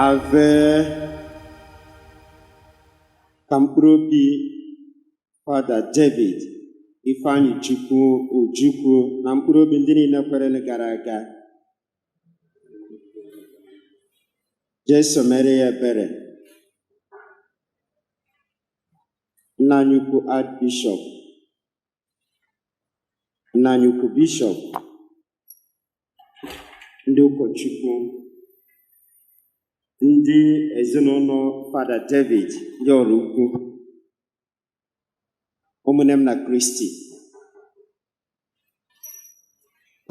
ave ka mkpụrụ obi fada david ifeanyịchukwu ojukwu na mkpụrụ obi ndị niile kwerenụ gara aga jesu mere ya ebere Nna anyị ukwu Archbishop Nna anyị ukwu Bishop ndị ụkọchukwu ndị ezinụlọ Fada David ndị ọrụ ukwu ụmụnne m na Kristi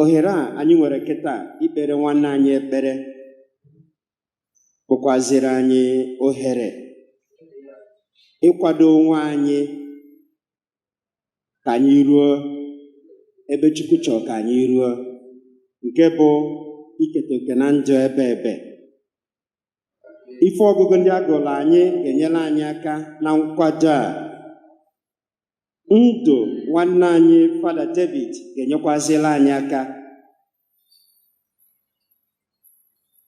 ohere a anyị nwere kịta ikpere nwanne anyị ekpere bụkwaziri anyị ohere ịkwado onwe anyị ka anyị ruo ebe Chukwu chọrọ ka anyị ruo nke bụ iketa oke na ndụ ebeebe ife ọgụgụ ndị a gụrụ anyị ga-enyere anyị aka na nkwado a ndụ nwanne anyị fada david ga-enyekwazili anyị aka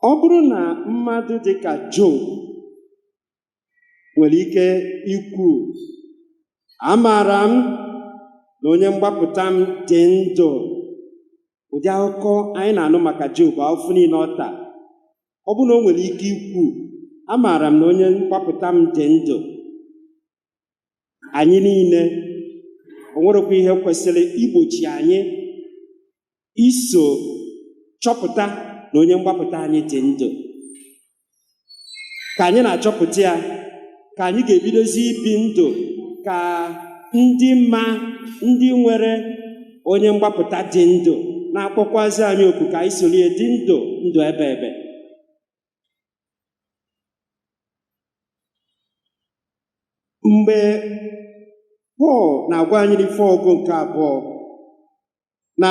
ọ bụrụ na mmadụ dị ka job nwere ike ikwu amaara m na onye mgbapụta m dị ndụ ụdị akụkọ anyị na-anụ maka job afụfụ niile ọ taa ọ bụrụ na o nwere ike ikwu amaara m na onye mgbapụta m dị ndụ anyị niile o nwerekwa ihe kwesịrị igbochi anyị iso chọpụta na onye mgbapụta anyị dị ndụ ka anyị na-achọpụta ya ka anyị ga-ebidozi ibi ndụ ka ndị ma ndị nwere onye mgbapụta dị ndụ na-akpọkwazi anyị oku ka anyị soro ya dị ndụ ndụ ebeebe mgbe pọl na-agwa anyị n'ife ọgụgụ nke abụọ na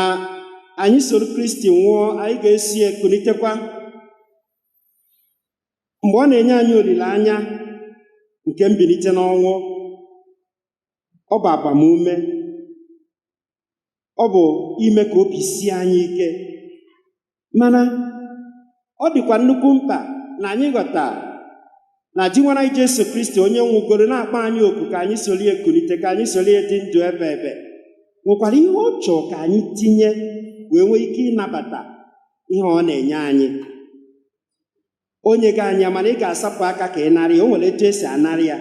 anyị soro kristi nwụọ anyị ga-eso ya kunitekwa mgbe ọ na-enye anyị olileanya nke mbilite n'ọnwụ ọ bụ agbamume ọ bụ ime ka obi sie anyị ike mana ọ dịkwa nnukwu mkpa na anyị ghọta na Dinwenụ anyị Jesu Kristi onye nwụgoro na-akpọ anyị oku ka anyị soro ya kunite ka anyị soro ya dị ndụ ebeebe nwekwara ihe ọ chọọ ka anyị tinye wee nwee ike ịnabata ihe ọ na-enye anyị onye gị anya mana ị ga-asapụ aka ka ị narị ya o nwere etu esi anarị ya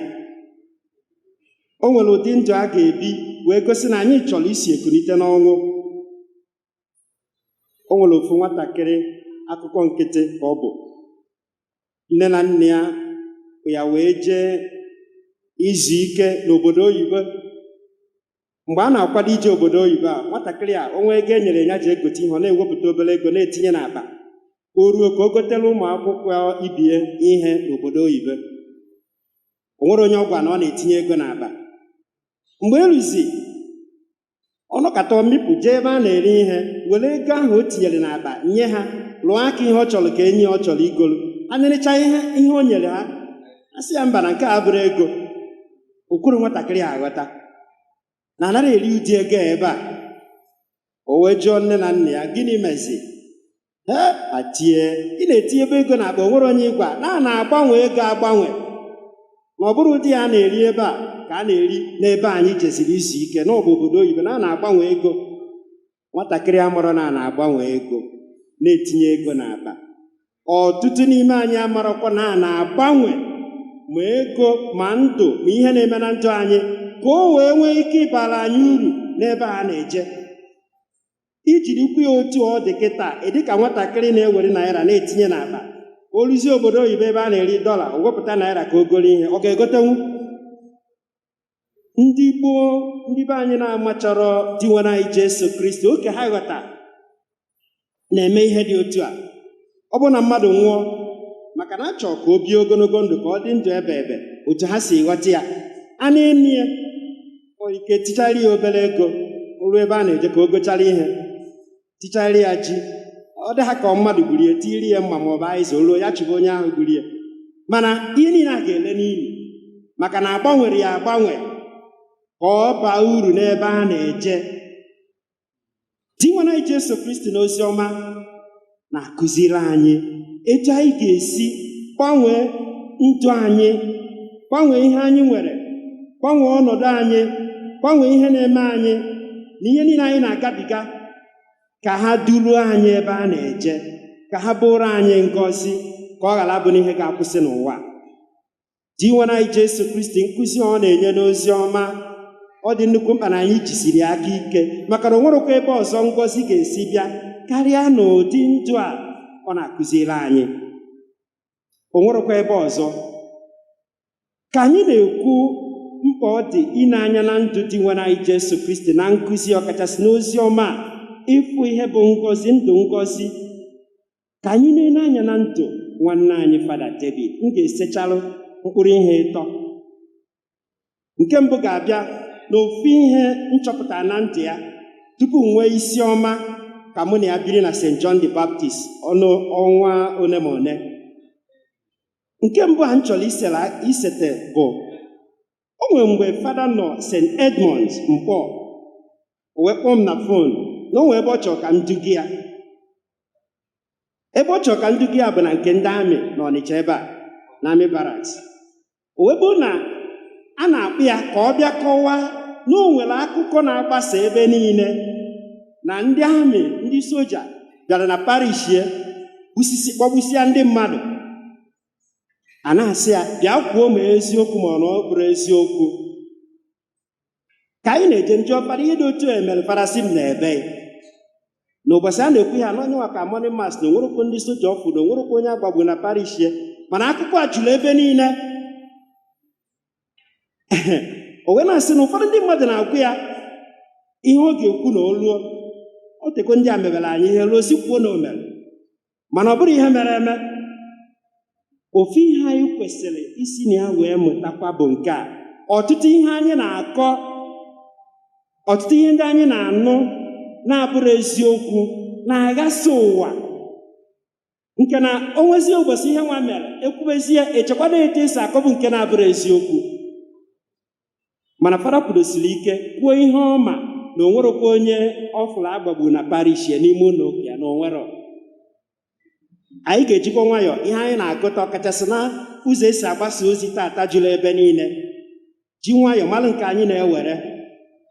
o nwere ụdị ndụ a ga-ebi wee gosi na anyị chọrọ isi ekunite n'ọnwụ o nwere ofu nwatakịrị akụkọ nkịtị ka ọ bụ nne na nna ya ya wee jee izu ike n'obodo oyibo mgbe a na-akwado ije obodo oyibo a nwatakịrị a o nwee ego e nyere ya ji egote ihe ọ na-ewepụta obere ego na-etinye n'akpa o ruo ka o gotere ụmụ akwụkwọ ibe ya ihe n'obodo oyibo o nwerọ onye ọ gwara na ọ na-etinye ego n'akpa mgbe e ruzi ọ nọkata mịpụ jee ebe a na-ere ihe were ego ahụ o tinyere n'akpa nye ha lụọ aka ihe ọ chọrọ ka e nye ya ọ chọrọ igolu a narịcha ihe ihe o nyere ha a sị ya mba na nke a abụrọ ego o kwerọ nwatakịrị a ghọta na anarọ eri ụdị ego a ebe a o wee jụọ nne na nna ya gịnị mezi he atie ị na-etinyebe ego n'akpa o nwere onye ị gwa na a na-agbanwe ego agbanwe na ọ bụrọ ụdị ya a na-eri ebe a ka a na-eri n'ebe anyị jeziri izu ike na ọ bụ obodo oyibo na a na-agbanwe ego nwatakịrị amarọ na a na-agbanwe ego na-etinye ego n'akpa ọtụtụ n'ime anyị amarọkwa na a na-agbanwe ma ego ma ndụ ma ihe na-eme na ndụ anyị ka o wee nwee ike ịbara anyị uru n'ebe a na-eje i jirikwu ya otu ọ dị kịta ị dị ka nwatakịrị na-ewere naira na-etinye n'akpa o ruzie obodo oyibo ebe a na-eri dọla o wepụta naira ka o goro ihe ọ ga-egotenwu ndị gboo ndị be anyị na-amacharọ Dinwenụ anyị Jesu Kristi oke ha ghọta na-eme ihe dị otu a ọ bụrụ na mmadụ nwụọ maka na a chọ ka o bie ogologo ndụ ka ọ dị ndụ ebe ebe otu ha si ghọta ya a na-eni ya ike tichara ya obere ego o ruo ebe a na-eje ka o gochara ihe tichara ya ji ọ dị ha ka mmadụ gburu ya tiri ya mma ma ọ bụ azịza o ruo ya chụba onye ahụ gburu ya mana ihe niile a ga-ele n'ili maka na agbanwerọ ya agbanwe ka ọ baa uru n'ebe a na-eje Dinwenụ anyị Jesu Kristi n'ozi ọma na-akụziri anyị etu anyị ga-esi gbanwee ndụ anyị gbanwee ihe anyị nwere gbanwee ọnọdụ anyị gbanwee ihe na-eme anyị na ihe niile anyị na-agabiga ka ha duruo anyị ebe a na-eje ka ha bụrụ anyị ngọzi ka ọ ghara abụ na ihe ga-akwụsị n'ụwa Dinwenụ anyị Jesu Kristi nkụzi a ọ na-enye n'ozi ọma ọ dị nnukwu mkpa na anyị jisiri ya aka ike maka na o nwerọkwa ebe ọzọ ngọzi ga-esi bịa karịa n'ụdị ndụ a ọ na-akụziri anyị o nwerekwa ebe ọzọ ka anyị na-ekwu mkpa ọ dị ine anya na ndụ Dinwenụ anyị Jesu Kristi na nkuzi ọkachasị n'ozi ọma ịfụ ihe bụ ngọzi ndụ ngọzi ka anyị na-ele anya na ndụ nwanne anyị fada David m ga-esechalụ mkpụrụ ihe ịtọ nke mbụ ga-abịa n'ofu ihe m chọpụtara na ndụ ya tupu m nwee isi ọma ka mụ na ya biri na St. John the Baptist ọnụ ọnwa one ma one nke mbụ a m chọrọ isela- isete bụ o nwere mgbe fada nọ St. Edmunds Nkpọ o wee kpọọ m na fon na o nwee ebe ọ chọrọ ka m duga ya ebe ọ chọrọ ka m duga ya bụ na nke ndị amị na Ọnịcha ebe a na amị baraks o wee bụrụ na a na-akpọ ya ka ọ bịa kọwaa na o nwere akụkọ na-agbasa ebe niile na ndị amị ndị soja bịara na parish ya gbusisi kpọgbusịa ndị mmadụ a na-asị ya bịa kwuo ma ọ eziokwu ma ọ na ọ bụrọ eziokwu ka anyị na-eje m jụọ fada ihe dị otu a emere fada sị m na ebe na ụbọchị a na-ekwu ya na ọ nya nwa ka mọni mas na o nwerọkwa ndị soja ọ fụ na o nwerọkwa onye a gbagbu na parish ya mana akụkọ a juru ebe niile o wee na-asị na ụfọdụ ndị mmadụ na-agwa ya ihe ọ ga-ekwu na o ruo o tego ndị a mebere anyị ihe ruo sị kwuo na o mere mana ọ bụrọ ihe mere eme ofu ihe anyị kwesịrị isi na ya wee mụtakwa bụ nke a ọtụtụ ihe anyị na-akọ ọtụtụ ihe ndị anyị na-anụ na-abụrọ eziokwu na-aghasa ụwa nke na o nwezie ụbọchị ihe nwa mere e kwubezie echekwado etu esi akọbu nke na-abụrọ eziokwu mana fada kwudosiri ike kwuo ihe ọ ma na o nwerọkwa onye ọ fụrụ a gbagbu na parish ya n'ime ụlọ ụka ya na o nwerọ anyị ga-ejikwa nwayọọ ihe anyị na-agụta ọkachasị na ụzọ esi agbasa ozi tata juru ebe niile ji nwayọọ mara nke anyị na-ewere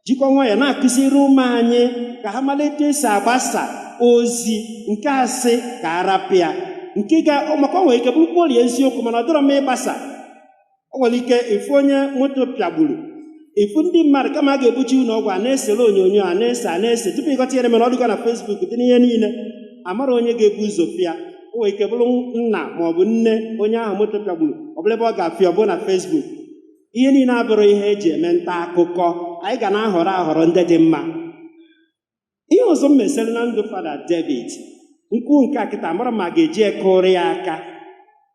jikwa nwayọọ na-akuziri ụmụ anyị ka ha mara etu esi agbasa ozi nke a sị ka a rapụ ya nke maka o nwere ike bụrụ kporie eziokwu mana ọ dịrọ mma ịgbasa o nwere ike ị fụ onye moto pịagburu ị fụ ndị mmadụ kama a ga-ebuje ụlọ ọgwụ a na-esere onyonyo a na-ese a na-ese tupu ị ghọta ihe mere ọ dịgo na Facebook dị n'ihe niile amarọ onye ga-ebu ụzọ fụ ya o nwere ike bụrụ nna ma ọ bụ nne onye ahụ moto pịagburu ọ bụrụ ebe ọ ga-afụ ya ọ bụrụ na Facebook ihe niile abụrụ ihe eji eme nta akụkọ anyị ga na-ahọrọ ahọrọ ndị dị mma ihe ọzọ mesịrị na ndụ fada david m kwuo nke a kịta amarọ m ma a ga-eji ya kụọrụ ya aka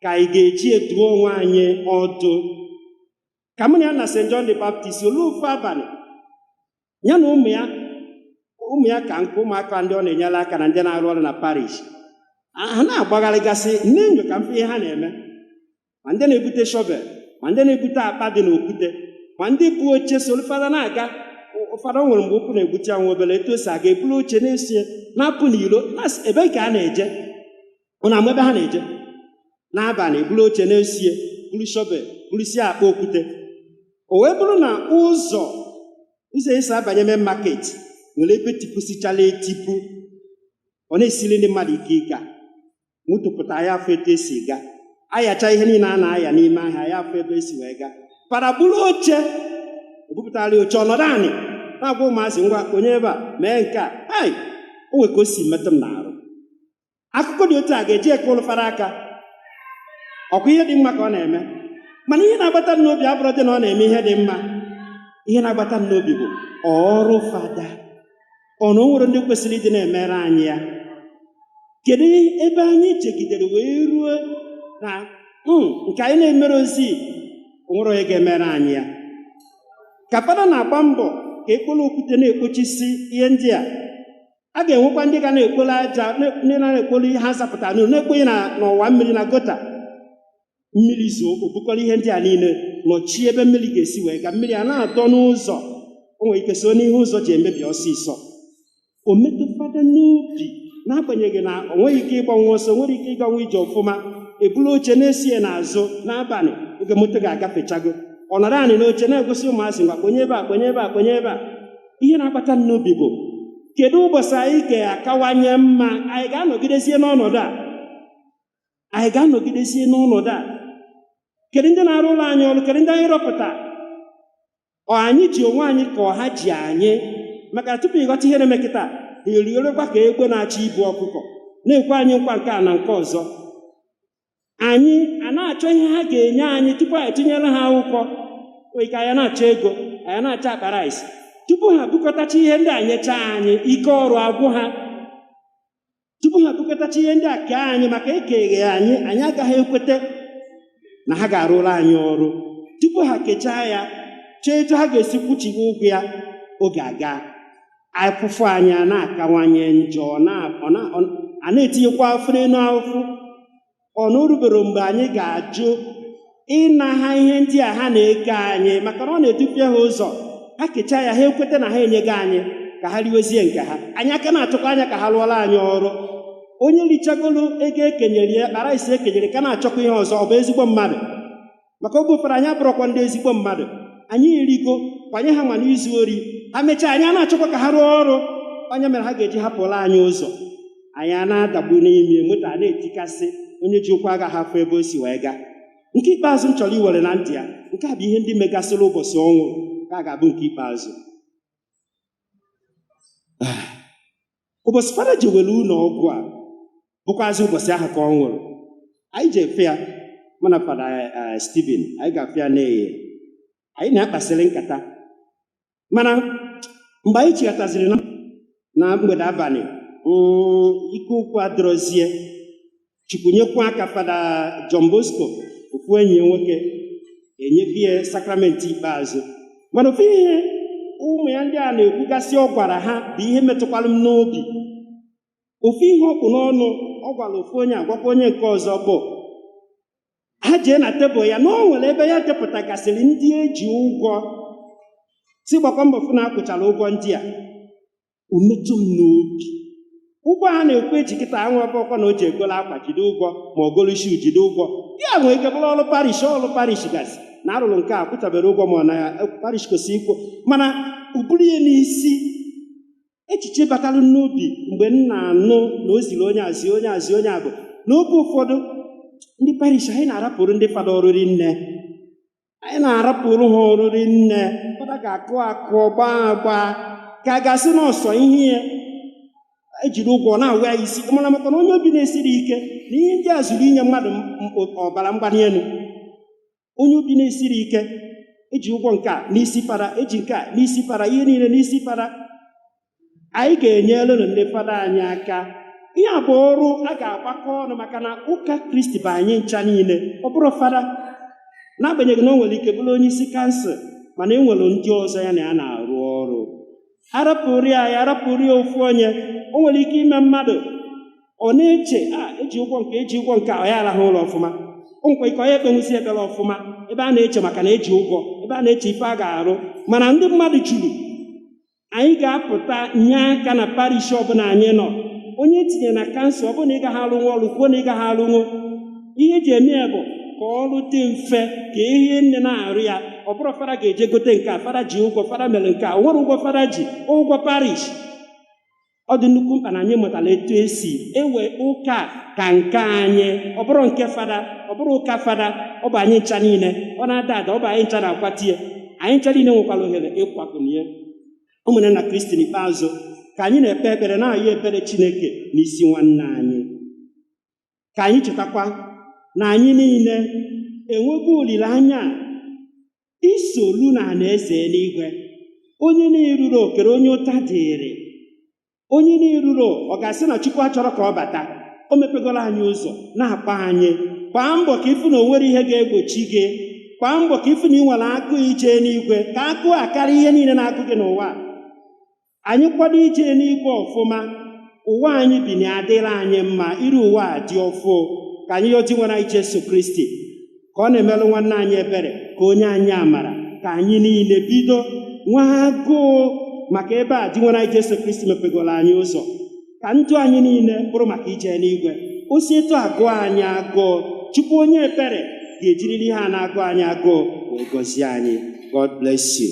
ka anyị ga-eji ya dụọ onwe anyị ọdụ ka mụ na ya nọ na st john the baptist olu ofu abalị ya na ụmụ ya ụmụ ya ka m kwuo ụmụaka ndị ọ na-enyere aka na ndị na-arụ ọrụ na parish ha na-agbagharịgasị m na-enyo ka m fụ ihe ha na-eme ma ndị na-ebute shọvel ma ndị na-ebute akpa dị n'okwute ma ndị bu oche soro fada na-aga ụfọdụ nwere mgbe ụkwụ na-egbuchi ya nwa obere etu o si aga eburu oche na-eso ya na-apụ n'iro na-asị ebee ka a na-eje ụnụ ama ebe ha na-eje n'abalị eburu oche na-eso ya buru shọvel burusie akpa okwute o wee bụrụ na ụzọ ụzọ esi abanye main market nwere ebe tipusichara etipu ọ na-esiri ndị mmadụ ike ịga moto pụta anaghị afụ etu esi ga ayacha ihe niile a na-aya n'ime ahịa anaghị afụ ebe esi wee ga fada buru oche ebupụtara oche ọ nọdụ anị na-agwa ụmụazị ngwa kponye ebe a mee nke a hai o nwe ka o si metụ m n'arụ akụkọ dị otu a ga-eji ya kụọrụ fada aka ọ kwa ihe dị mma ka ọ na-eme mana ihe na-agbata m n'obi abụrọdị na ọ na-eme ihe dị mma ihe na-agbata m n'obi bụ ọ ọrụ fada ọ na o nwerọ ndị kwesịrị ịdị na-emere anyị ya kedu ebe anyị chegidere wee ruo na nke anyị na-emerọzi o nwerọ onye ga-emere anyị ya ka fada na-agba mbọ ka e kporo okwute na-ekpochisi ihe ndị a a ga-enwekwa ndị ga na-ekporo aja na- ndị na-ekporo ihe ha zapụtara n'ụlọ na-ekponye na n'ọwa mmiri na gota mmiri zoo o bukọrọ ihe ndị a niile nọchie ebe mmiri ga-esi wee gaa mmiri a na-adọ n'ụzọ o nwere ike so n'ihe ụzọ ji emebi ọsịsọ o metụ fada n'obi n'agbanyeghị na o nweghị ike ịgbanwu ọsọ o nwerọ ike ịganwu ije ọfụma ebulu oche na-eso ya n'azụ n'abalị oge moto ga-agafechago ọ nọrọ anị n'oche na-egosi ụmụazị ngwa kponye ebe a kponye ebe a kponye ebe a ihe na-akpata m n'obi bụ kedu ụbọchị anyị ga-akawanye mma anyị ga-anọgidezie n'ọnọdụ a anyị ga-anọgidezie n'ọnọdụ a kedu ndị na-arụrụ anyị ọrụ kedu ndị anyị rọpụta ọ anyị ji onwe anyị ka ọ ha ji anyị maka tupu ị ghọta ihe na-eme kịta eriorekwa ka egbe na-achọ ibu ọkụkọ na-ekwe anyị nkwa nke a na nke ọzọ anyị a na-achọ ihe ha ga-enye anyị tupu anyị atụnyere ha akwụkwọ ike anyị na-achọ ego anyị na-achọ akpa rice tupu ha bukọtacha ihe ndị a nyechaa anyị ike ọrụ agwụ ha tupu ha bukọtacha ihe ndị a kee anyị maka ekeghị anyị anyị agaghị ekweta na ha ga-arụrụ anyị ọrụ tupu ha kechaa ya chee etu ha ga-esi kwụchigha ụgwọ ya oge aga afụfụ anyị a na-akawanye njọ a na-etinyekwa afụfụ n'elu afụfụ ọ na o rubero mgbe anyị ga-ajụ ịna ha ihe ndị a ha na-eke anyị maka na ọ na-edupịa ha ụzọ ha kechaa ya ha ekweta na ha enyego anyị ka ha riwezie nke ha anyị a ka na-achọkwa anya ka ha rụọra anyị ọrụ onye richagolo ego ekenyere ya rice ekenyere ka na-achọkwa ihe ọzọ ọ bụ ezigbo mmadụ maka oge ụfọdụ anyị abụrọkwa ndị ezigbo mmadụ anyị erigo kwanye ha ma n'izu ori ha mechaa anyị a na-achọkwa ka ha rụọ ọrụ ọ nya mere ha ga-eji hapụla anyị ụzọ anyị a na-adagbu n'ime moto a na-etikasị onye ji ụkwụ agaghị afụ ebe o si wee gaa nke ikpeazụ m chọrọ iwere na ntị ya nke a bụ ihe ndị megasịrị ụbọchị ọ nwụrụ ka a ga-abụ nke ikpeazụ ụbọchị fada jewere ụlọ ọgwụ ọ bụkwazị ụbọchị ahụ ka ọ nwụrụ anyị jee fụ ya mụ na fada eh, Stephen anyị gaa fụ ya n'ehihie anyị na ya kpasịrị nkata mana mgbe anyị chịghataziri na- na mgbede abalị mm, ike okwu adịrọzi ya chukwu nyekwa aka fada John Bosco ofu enyi ya nwoke enyebe ya sakramenti ikpeazụ mana ofu ihe ụmụ ya ndị a na-ekwugasị ọ gwara ha bụ ihe metụkwara m n'obi ofu ihe ọ kpụ n'ọnụ ọ gwara ofu onye agwakwa onye nke ọzọ bụ ha jee na tebụl ya na o nwere ebe ya depụtagasịrị ndị eji ụgwọ sị gbakwa mbọ fụ na akwụchara ụgwọ ndị a o metụ m n'obi ụgwọ a na-ekwu eji kịta abụrọkwa na o jee golo akwa jide ụgwọ ma ọ golo shoe jide ụgwọ ya nwere ike bụrụ ọrụ parish ọrụ parish gasị na arụrụ nke a kwụchaberọ ụgwọ ma ọ na parish kwesịrị ịkwụ mana o buru ya n'isi echiche batara n'obi mgbe m na-anụ na o ziri onye a zie onye a zie onye a bụ n'oge ụfọdụ ndị parish anyị na-arapụrụ ndị fada ọrụ rinne anyị na-arapụrụ ha ọrụ rinne fada ga-akụ akụ gbaa agba ka a ga-asị na ọ sọ ihe a ejiri ụgwọ na-awa ya isi mana maka na onye obi na-esirọ ike na ihe ndị a zuru inye mmadụ m- m- ọbara mgbali elu onye obi na-esirọ ike eji ụgwọ nke a n'isi fada eji nke a n'isi fada ihe niile n'isi fada anyị ga-enyerenụ ndị fada anyị aka ihe a bụ ọrụ a ga-agbakọ ọnụ maka na ụka kristi bụ anyị ncha niile ọ bụrọ fada n'agbanyeghị na o nwere ike bụrụ onye isi kansụl mana e nwere ndị ọzọ ya na ya na-arụ ọrụ arapụrụ ya ya arapụrụ ya ofu onye o nwere ike ime mmadụ ọ na-eche a eji ụgwọ nke eji ụgwọ nke a, ọ ya arahụ ụra ọfụma o nwekwa ike ọ ya ekpenwuzi ekpere ọfụma ebe a na-eche maka na eji ụgwọ ebe a na-eche ife a ga-arụ mana ndị mmadụ juru anyị ga-apụta nye aka na parish ọbụla anyị nọ onye e tinye na kansụl ọ bụrụ na ị gaghị arụnwu ọrụ kwuo na ị gaghị arụnwu ihe eji eme ya bụ ka ọrụ dị mfe ka irinne na-arụ ya ọ bụrọ fada ga-eje gote nke a fada ji ụgwọ fada mere nke a o nwerọ ụgwọ fada ji ụgwọ parish ọ dị nnukwu mkpa na anyị mụtara etu esi ewe ụka ka nke anyị ọ bụrọ nke fada ọ bụrọ ụka fada ọ bụ anyị ncha niile ọ na-ada ada ọ bụ anyị ncha na-akwatu ya anyị ncha niile nwekwara ohere ịkwakuni ya ụmụnne na kristi n'ikpeazụ ka anyị na-ekpe ekpere na-ayọ ebere chineke n'isi nwanne anyị ka anyị chetakwa na anyị niile enwego olileanya isolu na alaeze eluigwe onye na-erurọ kedu onye ụta dịrị onye na-erurọ ọ ga-asị na Chukwu achọrọ ka ọ bata o mepegola anyị ụzọ na-akpọ anyị gbaa mbọ ka ị fụ na o nwerọ ihe ga-egbochi gị gbaa mbọ ka ị fụ na ị nwere agụụ ije n'igwe ka agụụ a karịa ihe niile na-agụ gị n'ụwa anyị kwado ije n'igwe ọfụma ụwa anyị bi na adịrị anyị mma iru ụwa adị ọfụụ ka anyị yọọ Dinwenụ anyị Jesu Kristi ka ọ na-emelụ nwanne anyị ebere ka o nye anyị amara ka anyị niile bido nwee agụụ maka ebe a Dinwenụ anyị Jesu Kristi mepegoro anyị ụzọ ka ndụ anyị niile bụrụ maka ije n'igwe o si etu a agụ anyị agụụ Chukwu onye ebere ga-ejiriri ihe a na-agụ anyị agụụ wee gọzie anyị God bless you.